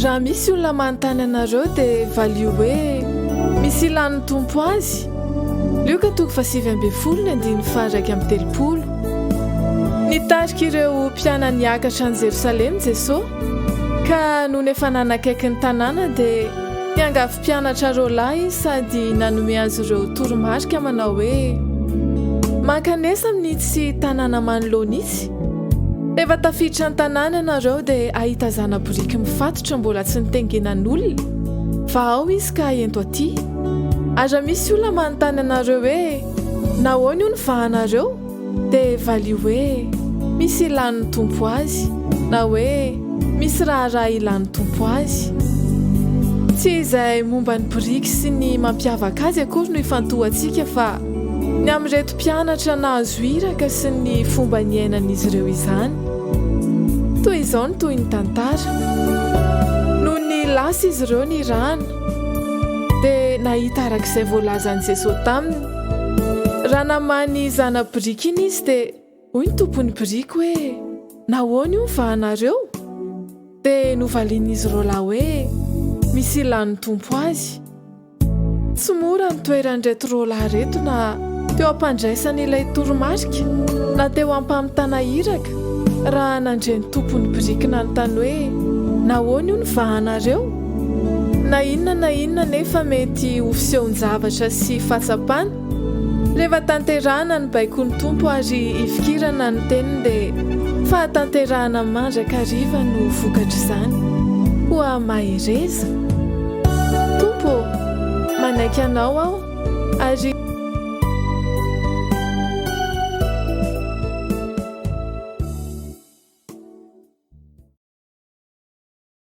Raha misy olona manontany anareo dia valio hoe misy ilàn'ny Tompo azy. Lioka toko fahasivy ambin'ny folo ny andininy faha-iraika amby telopolo. Nitarika ireo mpianany hiakatra any Jerosalema Jesoa, ka nony efa nanakaiky ny tanàna dia niangavy Mpianatra roa lahy sady nanome azy ireo toromarika manao hoe, Mankanesa amin'itsy tanàna manoloana itsy. Rehefa tafiditra ny tanàna ianareo dia hahita zana-boriky mifatotra mbola tsy notengenan'olona. Vahao izy ka ento aty. Ary raha misy olona manontany anareo hoe, 'Nahoana io ny vahanareo? Dia valio hoe misy ilàn'ny Tompo azy na hoe misy raharaha ilàn'ny Tompo azy. Tsy izay momba ny biriky sy ny mampiavaka azy akory no ifantohantsika fa ny amin'ireto mpianatra nahazo iraka sy ny fomba niainan'izy ireo izany. Toy izao ny tohin'ny tantara. Nony lasa izy ireo nirahana dia nahita arak'izay voalazan'i Jesoa taminy Raha namaly zana-biriky iny izy dia hoy ny tompon'ny biriky hoe, Nahoana io ny vahanareo? Dia novalian'izy roalahy hoe, Misy ilàn'ny Tompo azy. Tsy mora ny toeran'ireto roalahy ireto na teo am-pandraisana ilay toromarika na teo am-pamitana iraka raha nandre ny tompon'ny biriky nanontany hoe, Nahoana io ny vahanareo? Na inona na inona anefa mety ho fisehon-javatra sy fahatsapana, rehefa tanterahina ny baikon'ny Tompo ary ifikirana ny Teniny dia fahatanterahana mandrakariva no vokatr'izany. Koa mahereza! Tompo ô! Manaiky Anao aho ary.